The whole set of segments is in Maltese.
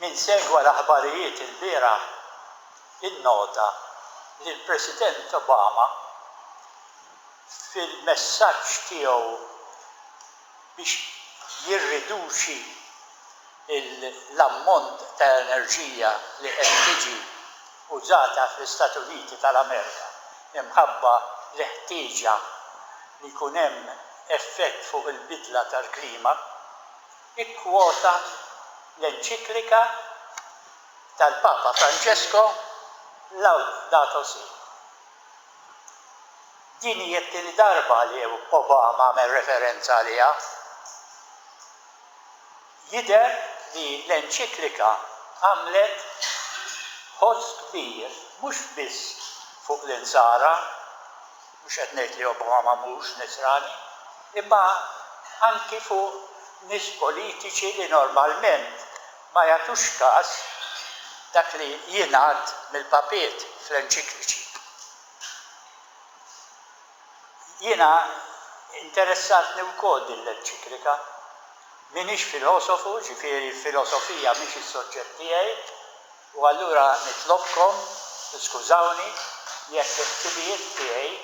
Min segwa l-aħbarijiet ilbieraħ innota li l-President Obama fil-messaġġ tiegħu biex jirriduċi l-ammont ta' enerġija li qed tiġi użata fl-Istati Uniti tal-Amerika imħabba l-ħtieġa li jkun hemm effett fuq il-bidla tal-klima, ikkwota l-enċiklika tal-Papa Franġesko Laudato Si'. Din hi t-tieni darba li Obama għamel referenza għaliha. Jidher li l-enċiklika għamlet ħoss kbir mhux biss fuq l-Insara, mhux qed ngħid li Obama mhux Nisrani, imma anki fuq nies politiċi li normalment ma jagħtux kas dak li jingħad mill-papiet fl-enċikliċi. Jiena interessatni wkoll din l-enċiklika. M'iniex filosofu, ġifieri filosofija mhix is-soġġett tiegħi, u allura nitlobkom tiskużawni jekk il-ħsibijiet tiegħi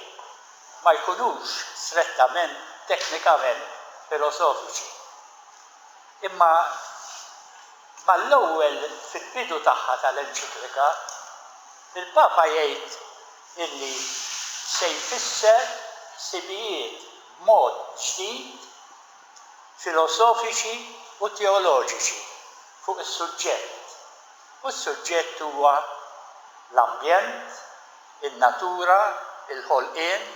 ma jkunux strettament teknikament filosofiċi. Imma mal-ewwel fil-bidu tagħha tal-enċiklika, il-Papa jgħid, illi se jfisser ħsibijiet b'mod ġdid filosofiċi u teoloġiċi fuq is-suġġett, u s-suġġett huwa l-ambjent, in-natura, il-ħolqien,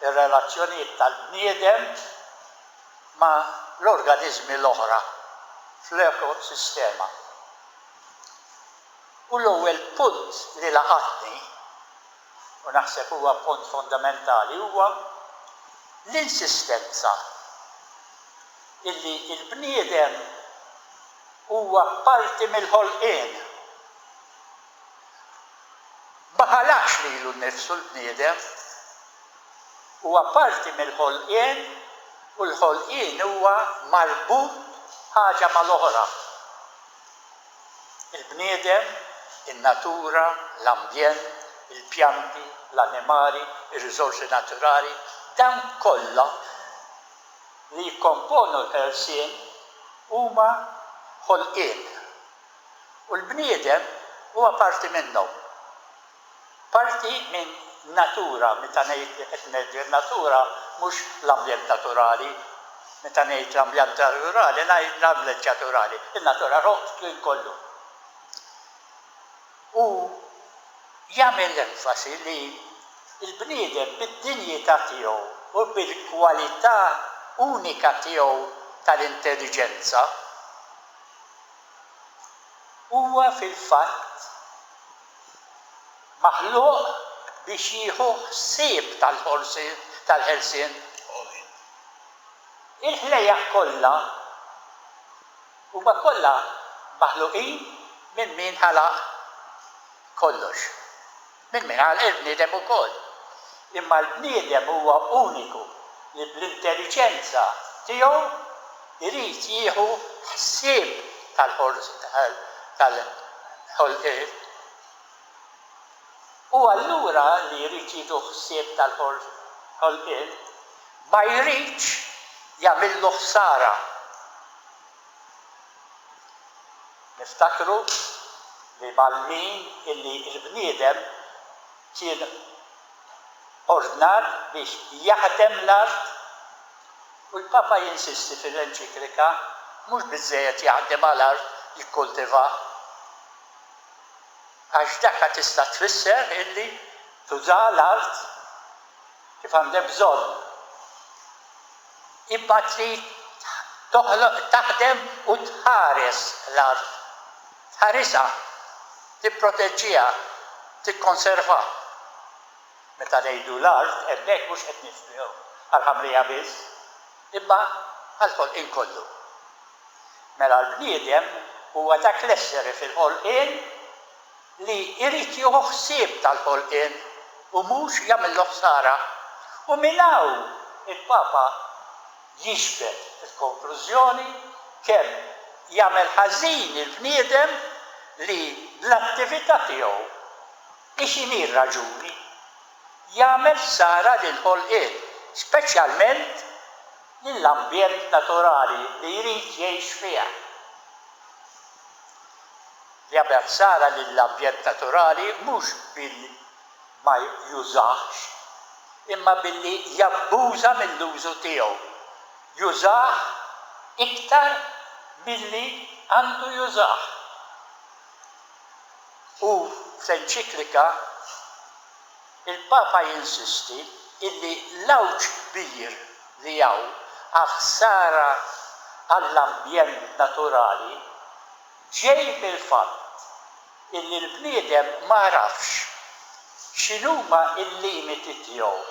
ir-relazzjonijiet tal-bniedem ma' l-organiżmi l-oħra fl-ekosistema. U l-ewwel punt li laqatni, u naħseb huwa punt fondamentali, huwa l-insistenza illi l-bniedem huwa parti mill-ħolqien. Ma ħalaqx lilu nnifsu l-bniedem. Huwa parti mill-ħolqien u l-ħolqien huwa marbut ħaġa mal-oħra. Il-bniedem, in-natura, l-ambjent, il-pjanti, l-annimali, ir-riżorsi naturali, dawn kollha li jikkomponu l-ħelsien huma ħolqien. U l-bniedem huwa parti minnhom. Parti minn natura, meta ngħid li qed ngħid in-natura mhux l-ambjent naturali, meta ngħid l-ambjent naturali ngħid l-ambjent naturali, in-natura roħ f'din kollu. U jagħmel l-enfasi li l-bniedem bid-dinjità tiegħu u bil-kwalità unika tiegħu tal-intelliġenza huwa fil-fatt maħluq biex jieħu ħsieb tal-ħelsien. Il-ħlejjaq kollha huma kollha maħluqin minn min ħalaq kollox, minn min ħalaq il-bniedem ukoll. Imma l-bniedem huwa uniku li bl-intelliġenza tiegħu jrid jieħu ħsieb tal-ħolqien. U allura li jrid jieħu ħsieb tal-ħolqien ma jridx jagħmillu ħsara. Niftakru li mal-min illi l-bniedem kien ordnat biex jaħdem l-art u l-Papa jinsisti fil-enċiklika, mhux biżżejjed jaħdem għal art jikkultivaha, għax dakha tista' tfisser illi tuża l-art kif għandek bżonn. Imbagħad li toħloq, taħdem u tħares l-art. Tħarisha, tipproteġġiha, tikkonservha. Meta ngħidu l-art hemmhekk mhux qed nifhmu għall-ħamrija biss, imma għall-ħolqien kollu. Mela l-bniedem huwa dak l-essere fil-ħolqien li jrid jieħu ħsieb tal-ħolqien u mhux jagħmillu ħsara. U minn hawn il-Papa jiġbed il-konklużjoni kemm jagħmel ħażin il-bniedem li bl-attività tiegħu, hi x'inhi r-raġuni, jagħmel ħsara lill-ħolqien, speċjalment lill-ambjent naturali li jrid jgħix fih. jagħmel ħsara lill-ambjent naturali mhux billi ma jużahx, imma billi jabbuża mill-użu tiegħu, jużah iktar milli għandu jużah. Hu fl-enċiklika, Il-Papa jinsisti illi l-għawġ kbir li hawn għal ħsara għall-ambjent naturali ġej mill-fatt illi l-bniedem m'għarafx x'inhuma l-limiti tiegħu,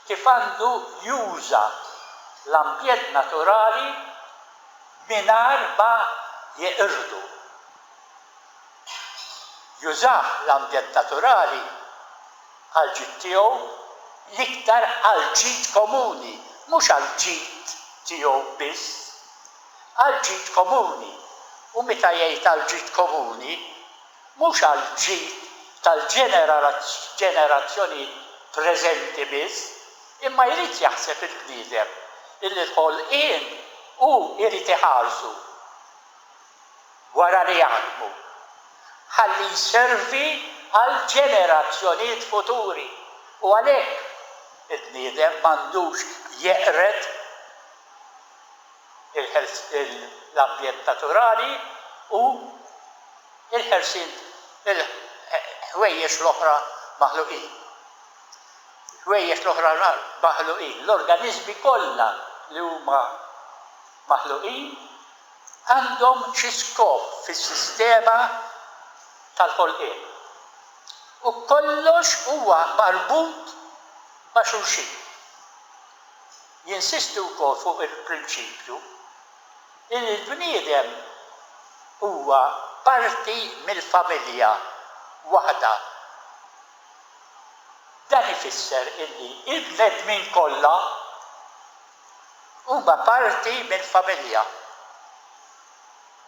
kif għandu juża l-ambjent naturali mingħajr ma jeqirdu. jużah l-ambjent naturali għall-ġid tiegħu, l-iktar għall-ġid komuni, mhux għall-ġid tiegħu biss, għall-ġid komuni, u meta jgħid għall-ġid komuni, mhux għall-ġid tal-ġenerazzjonijiet preżenti biss, imma jrid jaħseb il-bniedem illi l-ħolqien hu jrid iħarsu. wara li jaħdmu, ħalli jservi għall-ġenerazzjonijiet futuri u għalhekk il-bniedem m'għandux jeqred l-ambjent naturali u l-ħelsien il-ħwejjeġ l-oħra maħluqin. Il-ħwejjeġ l-oħra maħluqin, l-organiżmi kollha li huma maħluqin għandhom xi skop fis-sistema tal-ħolqien u kollox huwa marbut ma' xulxin. Jinsisti wkoll fuq il-prinċipju li l-bniedem huwa parti mill-familja waħda. Dan ifisser illi l-bnedmin kollha. Huma parti minn familja.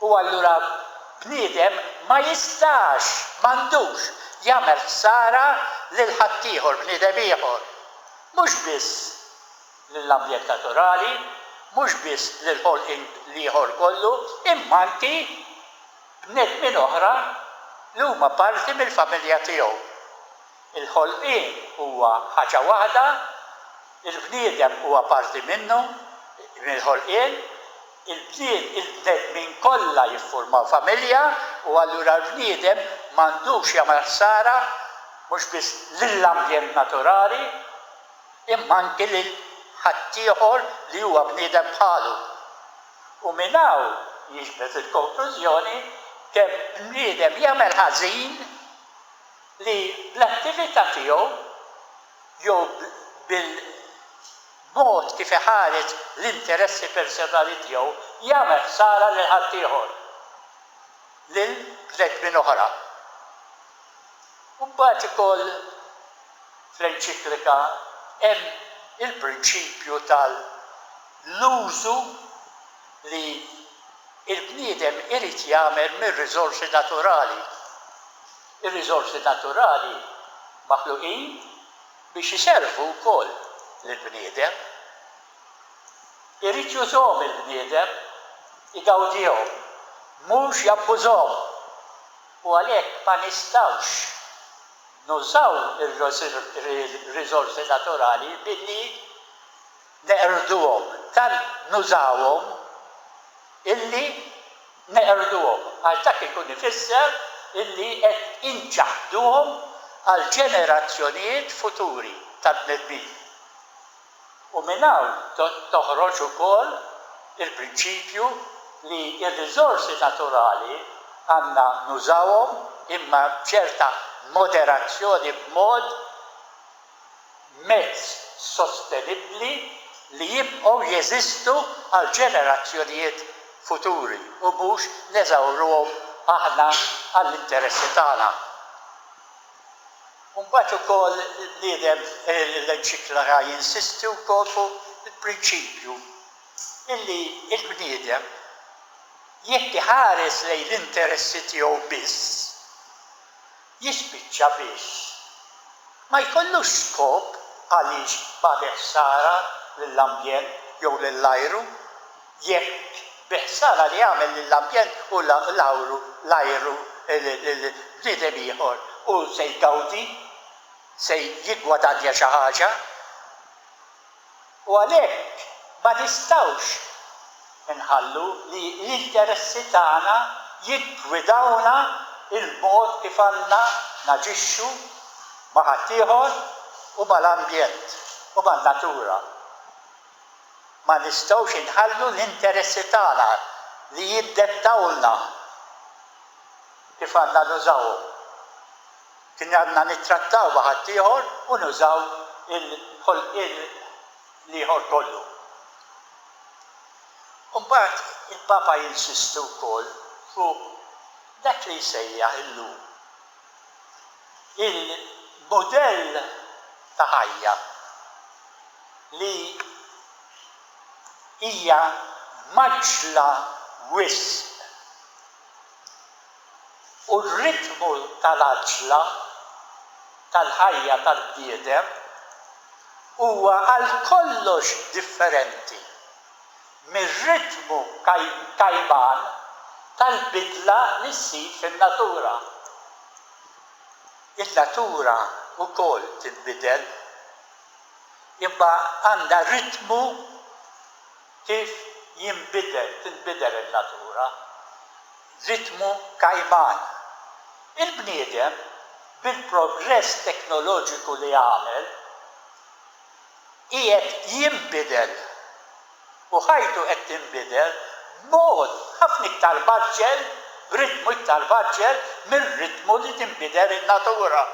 U allura bniedem ma jistax, m'għandux, jagħmel ħsara lil ħaddieħor, bniedem ieħor. Mhux biss lill-ambjent naturali, mhux biss lill-ħolqien l-ieħor kollu, imma anki bnedmin oħra li huma parti mill-familja tiegħu. Il-ħolqien huwa ħaġa waħda, il-bniedem huwa parti minnu, mill-ħolqien, il-bnied, il-bnedmin kollha jiffurmaw familja u allura l-bniedem m'għandux jagħmel ħsara mhux biss lill-ambjent naturali imma anki lil ħaddieħor li huwa bniedem bħalu. U minn hawn jiġbed il-konklużjoni kemm bniedem jagħmel ħażin, li bl-attività tiegħu jew bil-mod kif iħares l-interessi personali tiegħu jagħmel ħsara lil ħaddieħor, lil bnedmin oħra. U mbagħad ukoll fl-enċiklika hemm il-prinċipju tal-użu li l-bniedem irid jagħmel mir-riżorsi naturali. Ir-riżorsi naturali maħluqin biex iservu wkoll lill-bniedem. Irid jużhom il-bniedem, igawdihom, mhux jabbużhom. U għalhekk ma nistgħux nużaw ir-riżorsi naturali billi neqirduhom, tant nużawhom illi neqirduhom, għax dak ikun ifisser illi qed inċaħħduhom għall-ġenerazzjonijiet futuri tal-bnedmin. U minn hawn toħroġ ukoll il-prinċipju li r-riżorsi naturali għandna nużawhom imma b'ċerta moderazzjoni b'mod, mezz sostenibbli li jibqgħu jeżistu għall-ġenerazzjonijiet futuri u mhux neżawruhom aħna għall-interessi tagħna. U mbagħad ukoll il-bniedem, l-enċiklaka jinsisti wkoll fuq il-prinċipju illi l-bniedem jekk iħares lejn l-interessi tiegħu biss, jispiċċa biss ma jkollux skop għaliex bagħat ħsara lill-ambjent jew lill-ajru, jekk bi ħsara li għamel lill-ambjent u l-ajru bniedem ieħor hu se jgawdi, se jiggwadanja xi ħaġa. u għalhekk ma nistgħux inħallu li l-interessi tagħna jiggwidawna l-mod kif għandna naġixxu ma' ħaddieħor u mal-ambjent u man-natura. Ma nistgħux inħallu l-interessi tagħna li jiddettawlna kif għandna nużawhom. Kien għandna nittrattaw ma' ħaddieħor u nużaw il-ħolqien l-ieħor kollu. U mbagħad il-Papa jinsisti wkoll fuq dak li jsejjaħ illum il-mudell ta' ħajja li hija mgħaġġla wisq. u r-ritmu tal-għaġġla tal-ħajja tal-bniedem huwa għal kollox differenti mir-ritmu kajman tal-bidla li ssir fin-natura. In-natura wkoll tinbidel, imma għandha ritmu kif jinbidel, tinbidel in-natura, ritmu kajman. Il-bniedem, bil-progress teknoloġiku li għamel, qiegħed jinbidel u ħajtu qed tinbidel b'mod ħafna iktar mgħaġġel, b'ritmu iktar mgħaġġel mir-ritmu li tinbidel in-natura.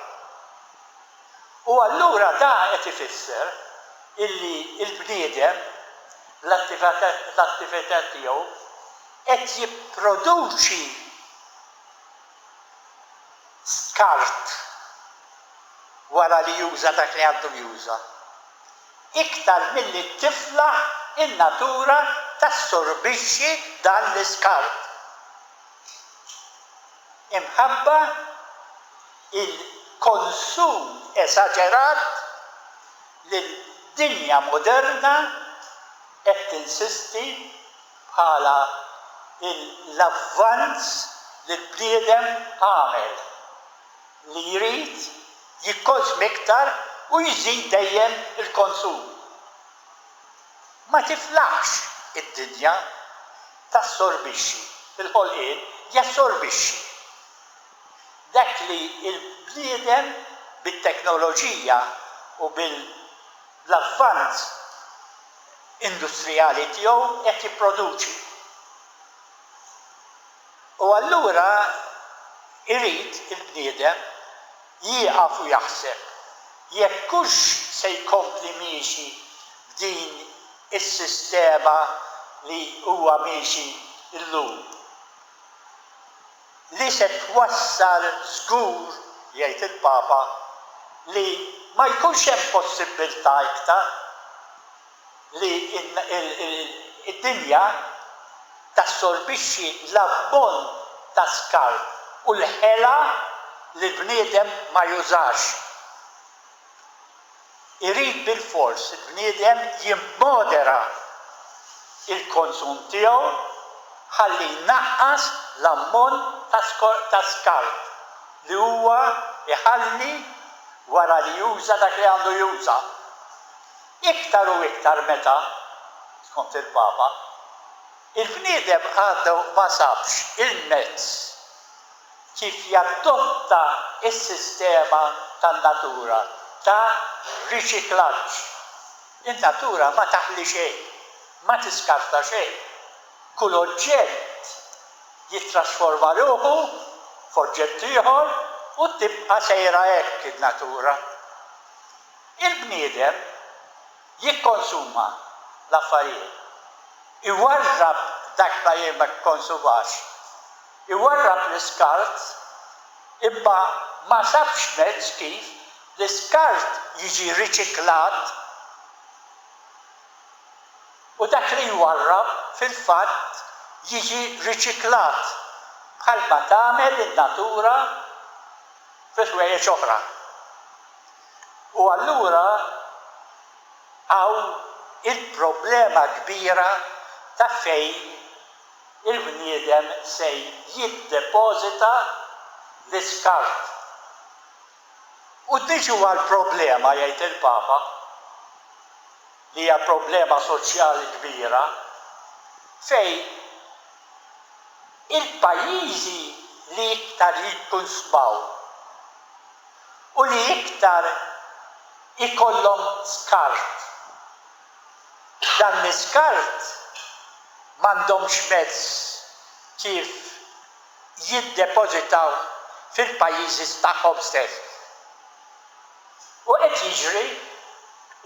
U allura da qed ifisser illi l-bniedem, bl-attivitajiet tiegħu, qed jipproduċi skart wara li juża dak li għandu juża, iktar milli tiflaħ in-natura tassorbixxi dan l-iskart. Imħabba? il-konsum esaġerat li d-dinja moderna qed tinsisti bħala l-avvanz li l-bniedem għamel, li jrid jikkonsm iktar u jżid dejjem il-konsum. Ma tiflaħx id-dinja tassorbixxi, il-ħolqien jassorbixxi. Dak li l-bniedem bit-teknoloġija u bil-avvanz industrijali tiegħu qed jipproduċi. U allura jrid il-bniedem jieqaf u jaħseb jekk hux se jkompli miexi b'din is-sistema li huwa miexi llum. li se twassal żgur, jgħid il-Papa, li ma jkunx hemm possibbiltà iktar li d-dinja tassorbixxi l-ammont ta' skart u l-ħela li l-bniedem ma jużax. Irid bilfors il-bniedem jimmodera l-konsum tiegħu ħalli jnaqqas l-ammont ta' skart li huwa jħalli wara li juża dak li għandu juża. Iktar u iktar meta, skont il-Papa, il-bniedem għadu ma sabx il-mezz kif jadotta s-sistema tan-natura ta' riċiklaġġ. In-natura ma taħli xejn, ma tiskarta xejn. Kull oġġett jittrasforma ruħu f'oġġett ieħor u tibqa' sejra hekk in-natura. Il-bniedem jikkonsuma l-affarijiet, iwarrab dak ma jikkonsumax, iwarrab l-iskart, imma ma sabx mezz kif l-iskart jiġi riċiklat u dak li jwarrab fil-fatt jiġi riċiklat bħalma tagħmel in-natura fi ħwejjeġ oħra. U allura hawn il-problema kbira ta' fejn il-bniedem se jiddepożita l-iskart. U niġu għall-problema, jgħid il-Papa, li hija problema soċjali kbira, fejn il-pajjiżi li iktar jikkunsmaw, u li iktar ikollhom skart. Dan l-iskart m'għandhomx mezz kif jiddepożitaw fil-pajjiżi tagħhom stess. U qed jiġri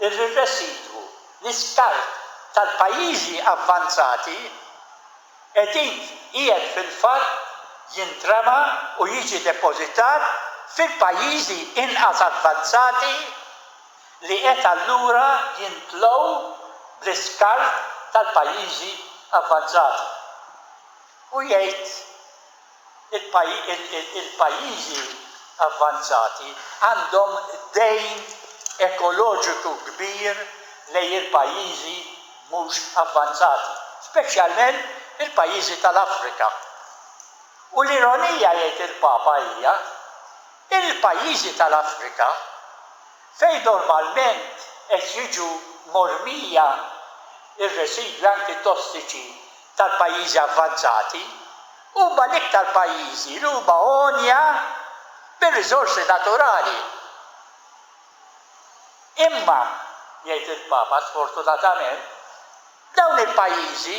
li r-residwu, l-iskart tal-pajjiżi avvanzati, Qed int qiegħed fil-fatt jintrema u jiġi depożitat fil-pajjiżi inqas avvanzati li qed allura jintlgħu bl-iskart tal-pajjiżi avvanzati. U jgħid. Il-pajjiżi avvanzati għandhom dejn ekoloġiku kbir lejn il-pajjiżi mhux avvanzati, speċjalment il-pajjiżi tal-Afrika. U l-ironija, jgħid il-Papa, hija li l-pajjiżi tal-Afrika, fejn normalment qed jiġu mormija r-residwi anki tossiċi tal-pajjiżi avvanzati huma l-iktar pajjiżi li huma għonja bir-riżorsi naturali. Imma, jgħid il-Papa, sfortunatament, dawn il-pajjiżi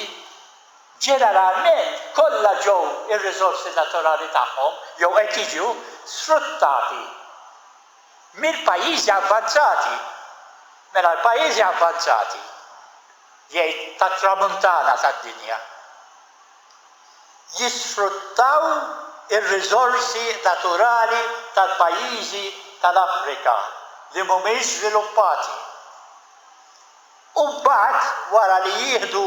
ġeneralment kollha ġew ir-riżorsi naturali tagħhom jew qed jiġu sfruttati mill-pajjiżi avvanzati. Mela l-pajjiżi avvanzati jgħid tat-Tramuntana tad-dinja, jisfruttaw ir-riżorsi naturali tal-pajjiżi tal-Afrika li mhumiex żviluppati u mbagħad wara li jieħdu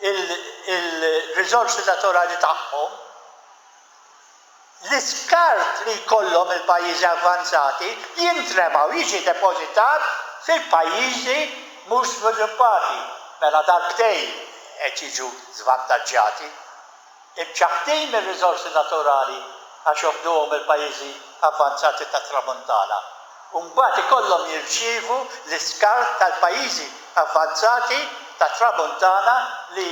l-riżorsi naturali tagħhom, l-iskart li jkollhom il-pajjiżi avvanzati jintrema u jiġi depożitat fil-pajjiżi mhux żviluppati. Mela darbtejn qed jiġu żvantaġġjati. Imċaħħdin mir-riżorsi naturali għax joħduhom il-pajjiżi avvanzati tat-Tramuntana u mbagħad ikollhom jirċievu l-iskart tal-pajjiżi avvanzati tat-Tramuntana li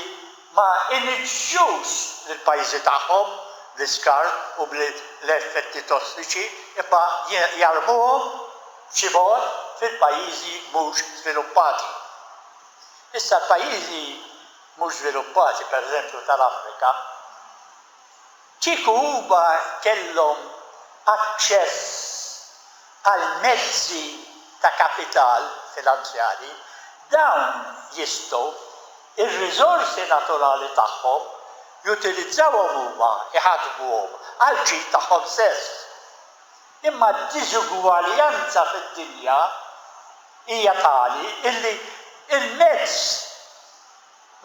ma jniġġsux l-pajjiżi tagħhom bl-iskart u bl-effetti tossiċi imma jarmuhom xi bogħod fil-pajjiżi mhux żviluppati. Issa l-pajjiżi mhux żviluppati, pereżempju tal-Afrika, kieku huma kellhom aċċess għal mezzi ta' kapital finanzjarji, dawn jistgħu ir-riżorsi naturali tagħhom, jutilizzawhom huma, iħaddmuhom għall-ġid tagħhom stess. Imma d-diżugwaljanza fid-dinja hija tali illi l-mezz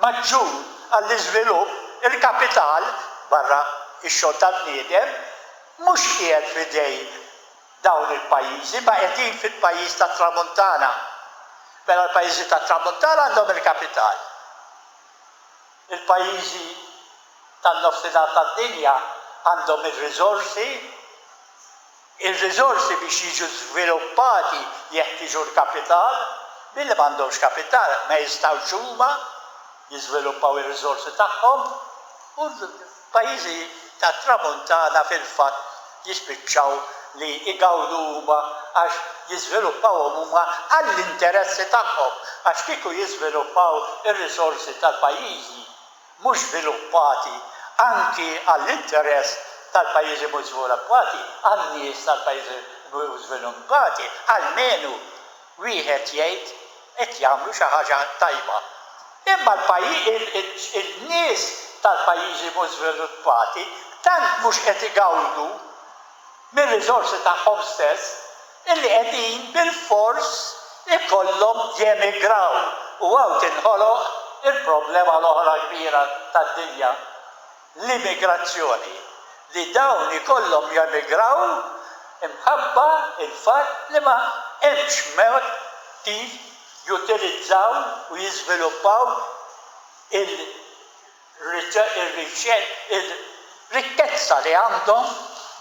maġġur għall-iżvilupp, il-kapital, barra x-xogħol tal-bniedem, mhux qiegħed f'idejn dawn il-pajjiżi ma qegħdin fil-pajjiż tat-Tramuntana, mela l-pajjiżi tat-Tramuntana għandhom il-kapital. Il-pajjiżi tan-nofsinhar tad-dinja għandhom ir-riżorsi, ir-riżorsi biex jiġu żviluppati jeħtieġu l-kapital, billi m'għandhomx kapital ma jistgħux huma jiżviluppaw ir-riżorsi tagħhom u Pajjiżi tat-Tramuntana fil-fatt jispiċċaw li jgawdu huma għax jiżviluppawhom huma għall-interessi tagħhom għax kieku jiżviluppaw ir-risorsi tal-pajjiżi mhux żviluppati anki għall-interess tal-pajjiżi mhux żviluppati għan-nies tal-pajjiżi mhux żviluppati almenu Wieħed jgħid qed jagħmlu xi ħaġa tajba. Imma n-nies tal-pajjiżi mhux żviluppati tant mhux qed igawdu mir-riżorsi tagħhom stess illi qegħdin bilfors ikollhom jemigraw u hawn tinħoloq il-problema l-oħra kbira tad-dinja. l-immigrazzjoni, li dawn ikollhom jemigraw imħabba l-fatt li ma hemmx mod kif jutilizzaw u jiżviluppaw ir-rikkezza li għandhom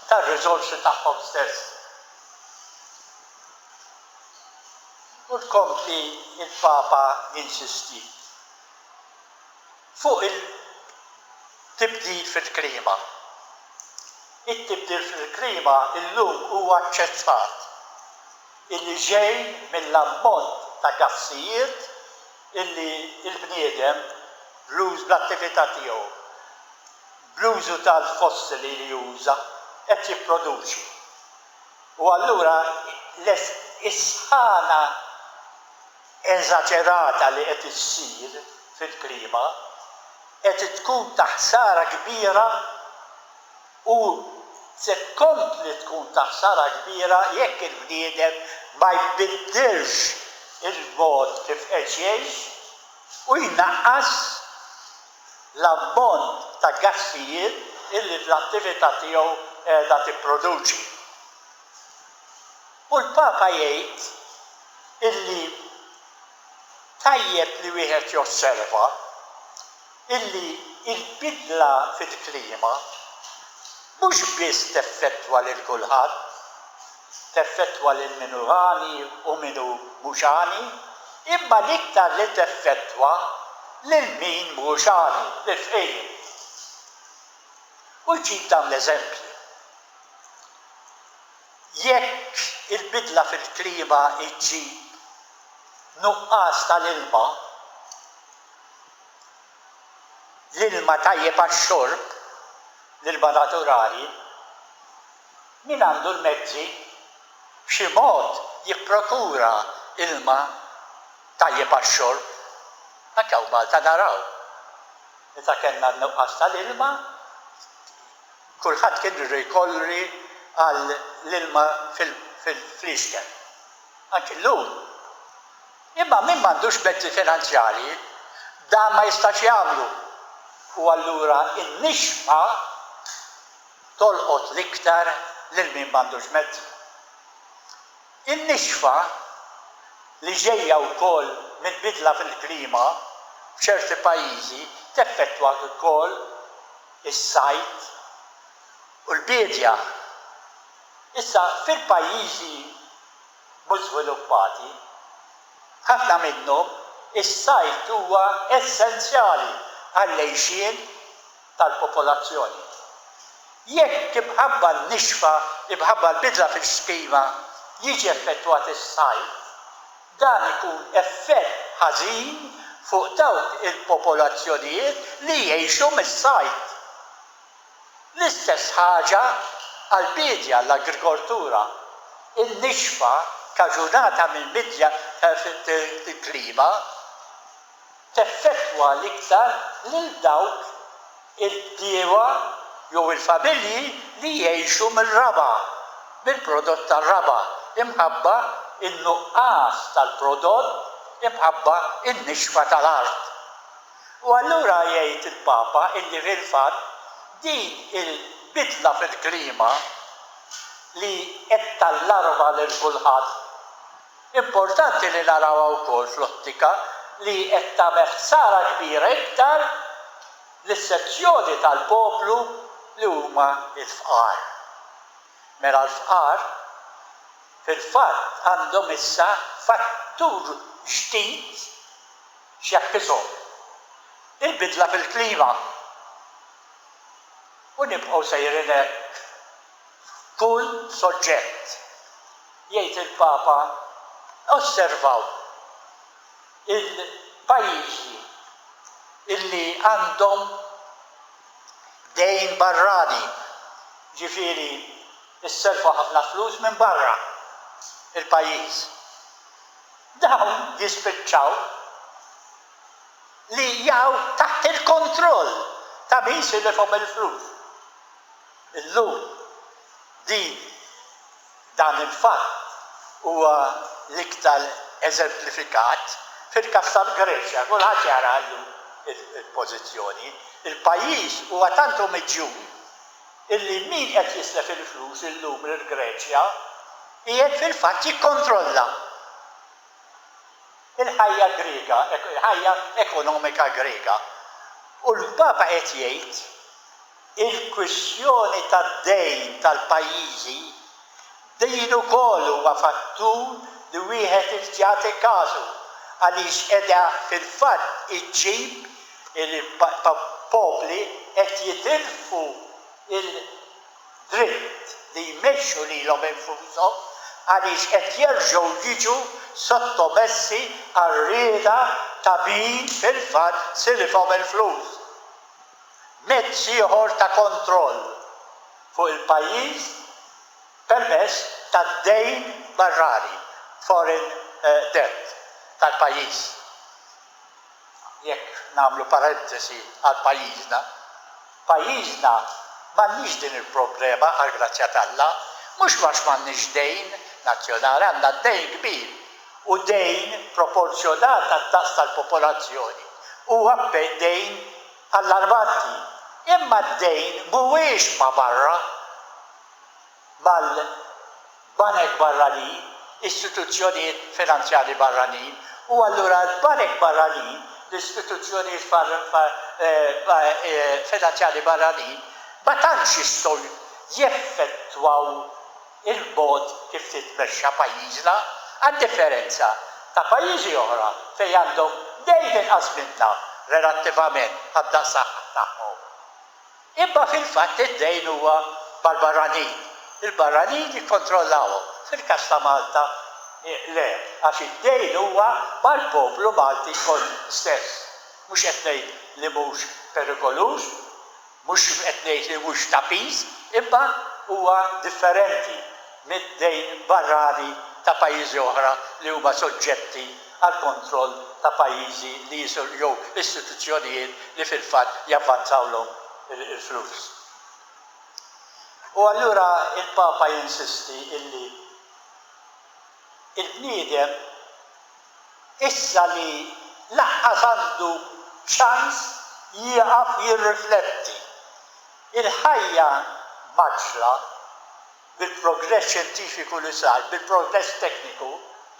tar-riżorsi tagħhom stess. U tkompli l-Papa jinsisti. Fuq il-tibdil fil-klima, It-tibdil fil-klima llum huwa aċċettat illi ġej mill-ammont ta' gassijiet illi l-bniedem bl-attività tiegħu, bl-użu tal-fossili li juża, qed jipproduċi. U allura is-sħana. eżaġerata li qed issir fil-klima qed tkun ta' ħsara kbira u se tkompli tkun ta' ħsara kbira jekk il-bniedem ma jbiddilx il-mod kif qed jgħix u jnaqqas l-ammont ta' gassijiet li l-attività tiegħu qiegħda tipproduċi. U l-Papa jgħid illi tajjeb li wieħed josserva illi l-bidla fil-klima mhux biss teffettwa lil kulħadd, teffettwa lil min hu għani u min hu mhux għani, imma l-iktar li teffettwa lil min mhux għani, lill-fqir. U jġib dawn l-eżempji. Jekk il-bidla fil-klima ġġib nuqqas tal-ilma, l-ilma tajjeb għax-xorb, l-ilma naturali, min għandu l-mezzi b'xi mod jipprokura ilma tajjeb għax-xorb? Anke hawn Malta naraw, meta kellna n-nuqqas tal-ilma, Kulħadd kien irri jkorri għal l-ilma fil-fliexken. Anki llum. Imma min m'għandux mezzi finanzjarji, dan ma jistax jagħmlu. U allura n-nixfa tolqot l-iktar lil min m'għandux mezzi. In-nixfa, li ġejja wkoll mill-bidla fil-klima f'ċerti pajjiżi, teffettwa wkoll is-sajd u l-biedja. Issa, fil-pajjiżi mhux żviluppati, f'ħafna minnhom is-sajd huwa essenzjali għall-għixien tal-popolazzjoni. Jekk imħabba n-nixfa, imħabba l-bidla fil-klima, jiġi effettwat is-sajd, Dan ikun effett ħażin fuq dawk il-popolazzjonijiet li jgħixu mis-sajd. L-istess ħaġa għall-biedja, l-agrikoltura, in-nixfa kaġunata mill-bidla fil-klima. teffettwa l-iktar lil dawk il-bdiewa jew il-familji li jgħixu mir-raba', mill-prodott tar-raba' imħabba n-nuqqas tal-prodott imħabba n-nixfa tal-art. U allura jgħid il-Papa illi fil-fatt din il-bidla fil-klima li qed tallarma lil kulħadd, Importanti li narawha wkoll fl-ottika li qed tagħmel ħsara kbira iktar lis-sezzjoni tal-poplu li huma l-fqar. Mela l-fqar fil-fatt għandhom issa fattur ġdid x'jakkisahom, il-bidla fil-klima. U nibqgħu sejrin hekk f'kull soġġett, jgħid il-Papa, osservaw il-pajjiżi illi għandhom dejn barrani, jiġifieri ssellfu ħafna flus minn barra l-pajjiż. Dawn jispiċċaw li jaqgħu taħt il-kontroll ta' min silifhom il-flus. Illum, din, dan il-fatt huwa l-iktar eżemplifikat fil-każ tal-Greċja. Kulħadd jara llum il-pożizzjoni. Il-pajjiż huwa tant omiġjun illi min qed jislef il-flus illum lill-Greċja qiegħed fil-fatt jikkontrolla l-ħajja Griega, il-ħajja ekonomika Griega. U l-Papa qed jgħid Il-kwistjoni tad-dejn tal-pajjiżi, din ukoll huwa fattur li wieħed irid jagħti każu għaliex qiegħda fil-fatt iġġib il-popli qed jitilfu l-dritt li jmexxu lilhom infushom għaliex qed jerġgħu jiġu sottomessi għar-rieda ta' min fil-fatt silifhom il-flus. Mezz ieħor ta' kontroll fuq il-pajjiż permezz tad-dejn barrani, foreign debt, tal-pajjiż. Jekk nagħmlu parentesi għal pajjiżna, pajjiżna m'għandniex din il-problema għall-grazzja t'Alla, mhux għax m'għandniex dejn nazzjonali, għandna dejn kbir u dejn proporzjonat għad-daqs tal-popolazzjoni, huwa dejn Allarmanti, imma d-dejn mhuwiex ma' barra, mal-banek barranin, istituzzjonijiet finanzjarji barranin, u allura l-banek barranin, l-istituzzjonijiet finanzjarji barranin ma tantx jistgħu jeffettwaw il-mod kif titmexxa pajjiżna għad-differenza ta' pajjiżi oħra fejn għandhom dejn inqas minna relattivament għad-daqs tagħhom. Imma fil-fatt id-dejn huwa mal-barranin. Il-barranin jikkontrollahom. Fil-każ ta' Malta le, għax id-dejn huwa mal-poplu Malti kollu stess. Mhux qed ngħid li mhux perikoluż. Mhux qed ngħid li mhux ta' piż, imma huwa differenti mid-dejn barrani ta' pajjiżi oħra li huma soġġetti għall-kontroll ta' pajjiżi li jew istituzzjonijiet li fil-fatt javvanzawlhom il-flus. U allura l-Papa jinsisti illi l-bniedem, Issa li laqqas għandu ċans jieqaf jirrifletti, il-ħajja mgħaġġla, bil-progress xjentifiku li sar, bil-progress tekniku,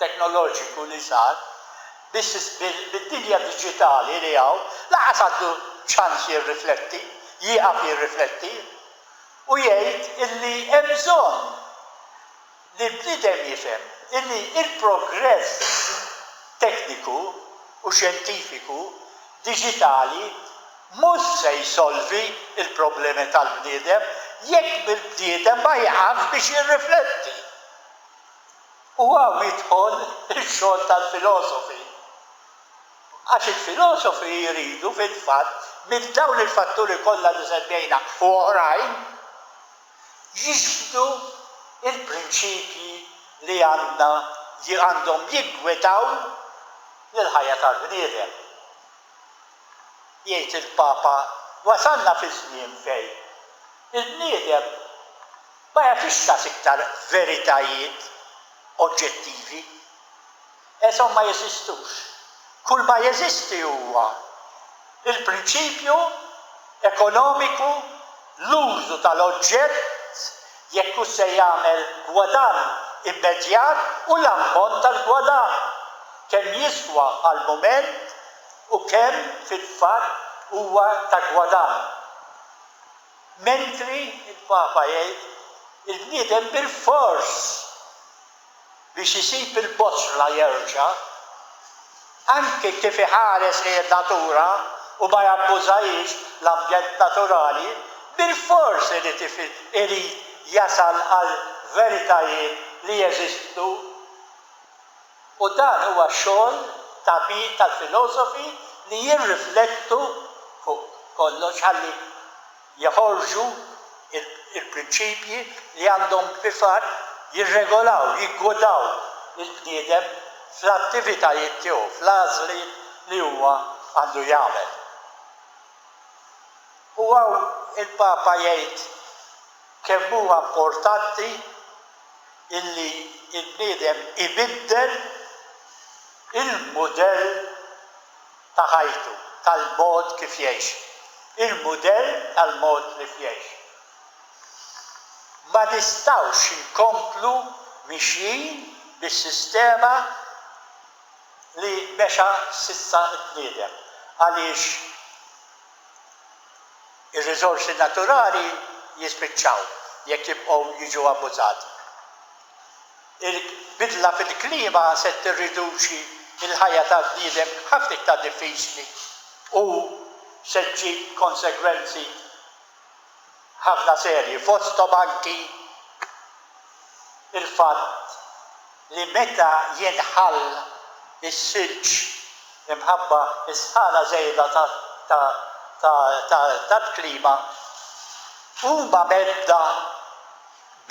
teknoloġiku li sar, bid-dinja diġitali li hawn, laqqas għandu ċans jirrifletti, jieqaf jirrifletti u jgħid illi hemm bżonn li l-bniedem jifhem illi l-progress tekniku u xjentifiku diġitali mhux se jsolvi l-problemi tal-bniedem jekk il-bniedem ma jieqafx biex jirrifletti. U hawn jidħol ix-xogħol tal-filosofi. Għax il-filosofi jridu fil-fatt minn dawn il-fatturi kollha li semmejna u oħrajn, jixhdu l-prinċipji li għandna għandhom jiggwidaw lill-ħajja tal-bniedem. Jgħid il-Papa wasalna fi żmien fejn il-bniedem ma jagħtix kas iktar veritajiet oġġettivi. Għeshom ma jeżistux. Kull ma jeżisti huwa l-prinċipju ekonomiku, l-użu tal-oġġett, jekk hux se jagħmel gwadann immedjat u l-ammont tal-gwadann, kemm jiswa għall-mument u kemm fil-fatt huwa ta' gwadann. Mentri, il-Papa jgħid, il-bniedem bilfors biex isib il-boċla jerġa', anki kif iħares lejn in-natura u ma jabbużahiex, l-ambjent naturali, bilfors irid irid jasal għal veritajiet li jeżistu. U dan huwa x-xogħol ta' min tal-filosofi li jirriflettu fuq kollox ħalli jeħorġu l-prinċipji li għandhom fil-fatt jirregolaw, jiggwdaw lill-bniedem fl-attivitajiet tiegħu, fl-għażliet li huwa għandu jagħmel. U hawn il-Papa jgħid kemm huwa importanti illi l-bniedem ibiddel il-mudell ta' ħajtu, tal-mod kif jgħix, il-mudell tal-mod lif jgħix. Ma nistgħux inkomplu mixjin bis-sistema li mexa s'issa l-bniedem għaliex ir-riżorsi naturali jispiċċaw jekk jibqgħu jiġu abbużati. Il-bidla fil-klima se tirriduċi l-ħajja tal-bniedem ħafna iktar diffiċli u se ġġib konsegwenzi ħafna serji, fosthom anki l-fatt li meta jinħall is-silġ imħabba s-sħana żejda tal-klima, huma mhedda.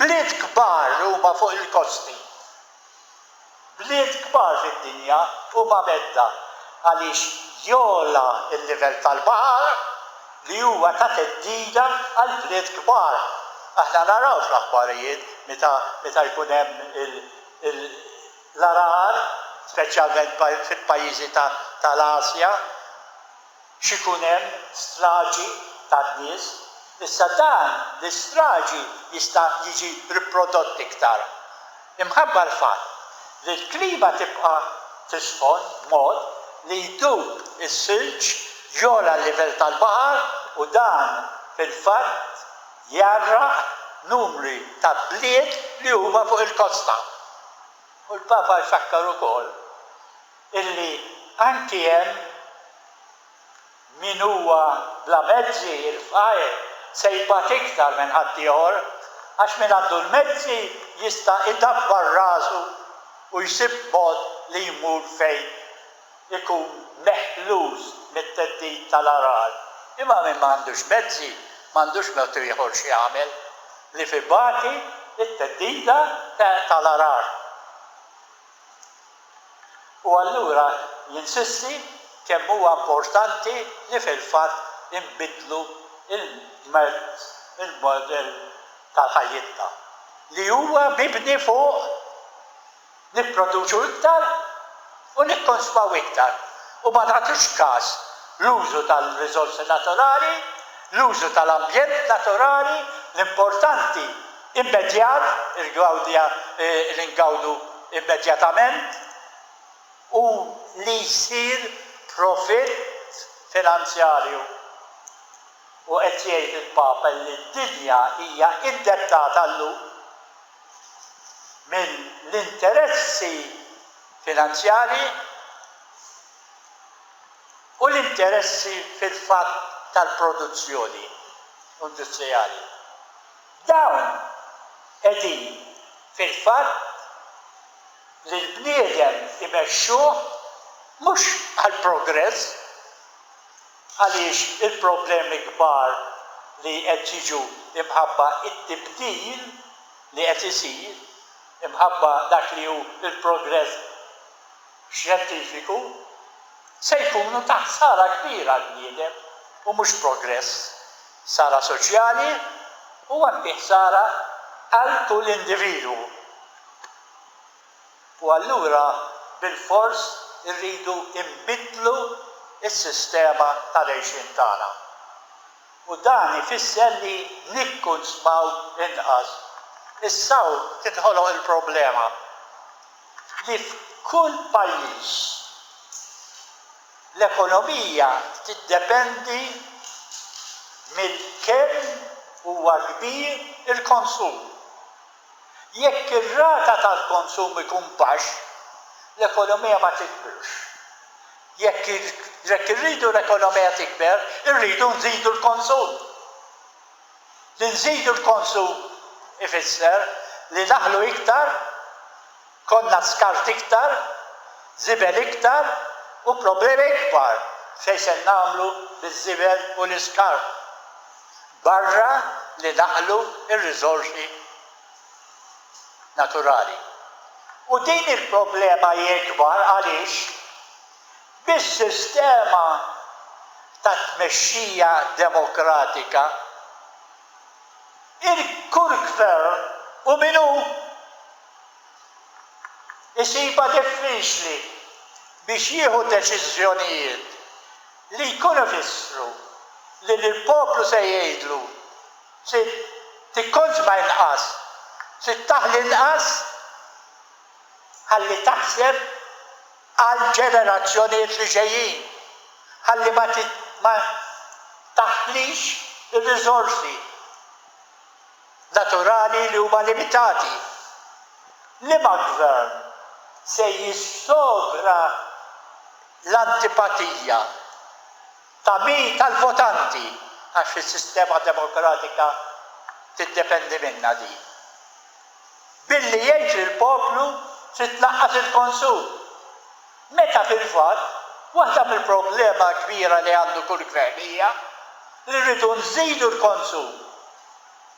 Bliet kbar li huma fuq il-kosti. Bliet kbar fid-dinja huma medda għaliex jogħla l-livell tal-baħar li huwa ta' theddida għall-bliet kbar. Aħna naraw fl-aħbarijiet meta meta jkun hemm il l-għargħar, speċjalment fil-pajjiżi tal-Asja. x'ikun hemm straġi ta' nies, issa dan l-istraġi jista' jiġi riprodott iktar imħabba l-fatt li l-klima tibqa' tisħon b'mod li jdub is-silġ, jogħla l-livell tal-baħar u dan fil-fatt jgħarraq numri ta' bliet li huma fuq il-kosta. U l-Papa jfakkar ukoll illi anki hemm min huwa bla mezzi, il-fqir, se jbati iktar minn ħaddieħor, għax min għandu l-mezzi jista' idabbar rasu u jsib mod li jmur fejn ikun meħluż mit-theddid tal-għargħar, imma min ma għandux mezzi m'għandux mod ieħor x'jagħmel li f'ibati t-theddida tal-għargħar. u allura jinsisti kemm huwa importanti li fil-fatt inbiddlu l-modell ta' ħajjitna li huwa mibni fuq nipproduċu iktar u nikkonsmaw iktar u ma nagħtux kas l-użu tal-riżorsi naturali, l-użu tal-ambjent naturali, l-importanti immedjat, il-gwardja li ngawdu immedjatament, u li jsir profitt finanzjarju. U qed jgħid il-Papa li d-dinja hija indettata llum mill-interessi finanzjarji u l-interessi fil-fatt tal-produzzjoni industrijali. Dawn qegħdin fil-fatt li l-bniedem imexxuh mhux għall-progress għaliex il-problemi kbar li qed jiġu imħabba t-tibdil li qed isir, imħabba dak li hu l-progress xjentifiku, se jkunu ta' ħsara kbira għall-bniedem u mhux progress. Ħsara soċjali u anki ħsara għal kull individwu. U allura bilfors irridu nbiddlu s-sistema tal-għejxien tagħna. U dan ifisser li nikkunsmaw inqas. Issa hawn tinħoloq il-problema li f'kull pajjiż L-ekonomija tiddependi minn kemm huwa kbir il-konsum. Jekk ir-rata tal-konsum ikun baxx, l-ekonomija ma tikbirx. Jekk irridu l-ekonomija tikber, irridu nżidu l-konsum. Li nżidu l-konsum ifisser li naħlu iktar, konna skart iktar, żibel iktar u problemi ikbar f'xejn se nagħmlu biż-żibel u l-iskart, barra li naħlu r-riżorsi naturali. U din il-problema hi ikbar għaliex? bis-sistema ta' tmexxija demokratika, il-Kur Gvern hu min hu. Isibha diffiċli biex jieħu deċiżjonijiet li jkunu jfissru li lill-poplu se jgħidlu trid tikkonżma inqas, trid taħli inqas ħalli taħseb. għall-ġenerazzjonijiet li ġejjin ħalli ma taħlix ir-riżorsi naturali li huma limitati. Liema gvern se jissogra l-antipatija ta' min tal-votanti għax is-sistema demokratika tiddependi minnha din. billi jgħid lill-poplu trid tnaqqas il-konsum, meta fil-fatt waħda mill-problema l-kbira li għandu kull gvern hija li rridu nżidu l-konsum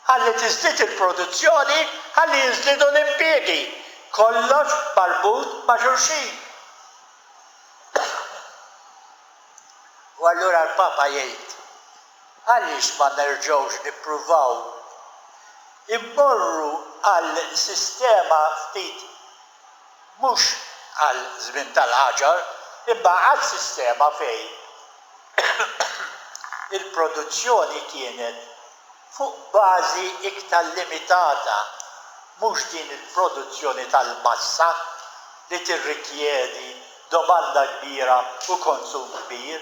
ħalli tiżdied il-produzzjoni ħalli jiżdiedu l-impjiegi, kollox marbut ma' xulxin. U allura l-Papa jgħid. Għaliex ma nerġgħux nippruvaw immorru għal sistema ftit, mhux għal żmien tal-ħaġar, imma għal sistema fejn il-produzzjoni kienet fuq bażi iktar limitata, mhux din il-produzzjoni tal-massa li tirrikjedi domanda kbira u konsum kbir,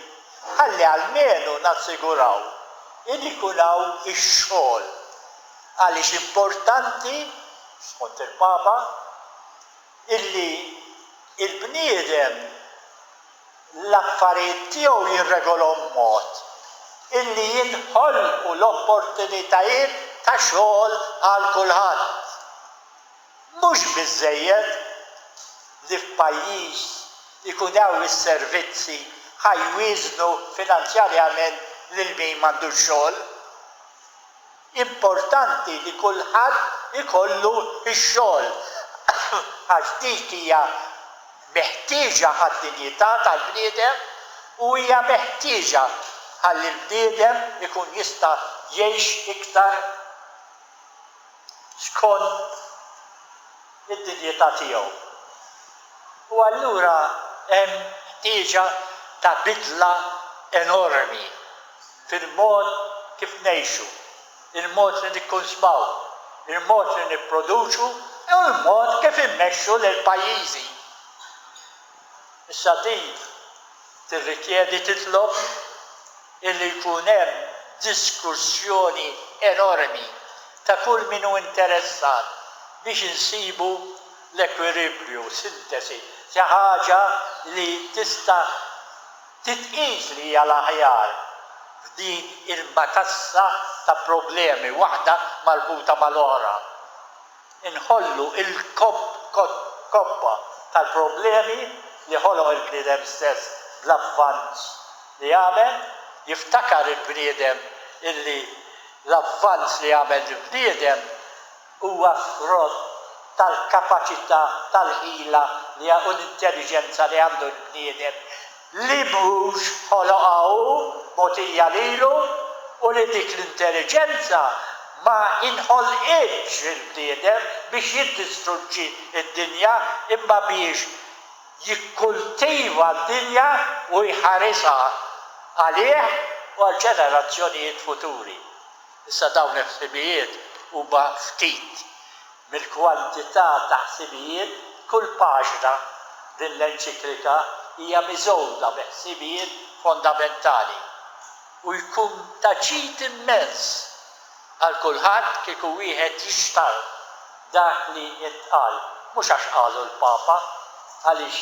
ħalli almenu nassiguraw li jkun hawn ix-xogħol għaliex importanti, skont il-Papa, illi l-bniedem l-affarijiet tiegħu jirregolahom b'mod illi jinħolqu l-opportunitajiet ta' xogħol għal kulħadd. Mhux biżżejjed li f'pajjiż jkun hawn is-servizzi ħa jwieżnu finanzjarjament lil min m'għandux xogħol. Importanti li kulħadd ikollu x-xogħol għax dik hija meħtieġa għad-dinjità tal-bniedem u hija meħtieġa ħalli l-bniedem ikun jista' jgħix iktar skont id-dinjità tiegħu. U allura hemm ħtieġa ta' bidla enormi fil-mod kif ngħixu, il-mod li nikkonsmaw, il-mod li nipproduċu u l-mod kif immexxu lill-pajjiżi. Issa din tirrikjedi titlob illi jkun hemm diskussjoni enormi ta' kull min hu interessat biex insibu l-ekwilibrju, sintesi, ta' ħaġa li tista' titqies li hija l-aħjar f'din il-matassa ta' problemi, waħda marbuta mal-oħra. Inħollu l-kobba tal-problemi li ħoloq il-bniedem stess bl-avvanz li għamel. Jiftakar il-bniedem illi l-avvanz li għamel l-bniedem huwa frott tal-kapaċità, tal-ħila u l-intelliġenza li għandu l-bniedem li mhux ħoloqha hu, mogħtija lilu, u li dik l-intelliġenza ma inħolqitx il-bniedem biex jiddistruġġi d-dinja imma biex jikkultiva d-dinja u jħarisha għalih u għall-ġenerazzjonijiet futuri. Issa dawn il-ħsibijiet huma ftit Mill-kwantità ta' ħsibijiet kull paġna, din l-enċiklika hija miżgħuda bi ħsibijiet fondamentali u jkun ta' ġid immens għal kulħadd kieku wieħed jixtarr dak li intqal, mhux għax qalu l-Papa, għaliex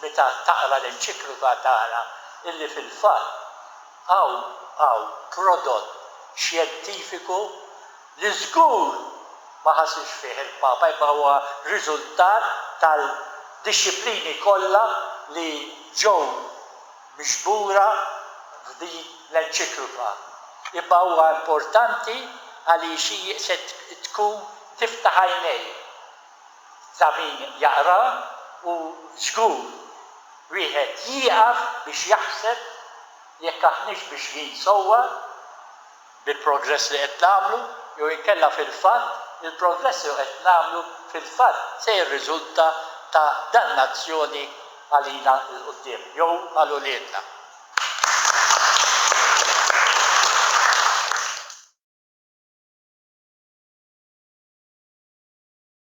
meta taqra l-enċiklika tara illi fil-fatt hawn hawn prodott xjentifiku li żgur ma ħasirx fih il-Papa imma huwa riżultat tal-dixxiplini kollha li ġew miġbura f'din l-enċikluka, imma huwa importanti għaliex hi se tkun tiftaħ għajnejh ta' min jaqrah u żgur wieħed jieqaf biex jaħseb jekk aħniex mixjin sewwa. bil-progress li qed nagħmlu jew inkella fil-fatt li l-progress li qed nagħmlu fil-fatt se jirriżulta ta' dannazzjoni għalina 'l quddiem jew għal uliedna.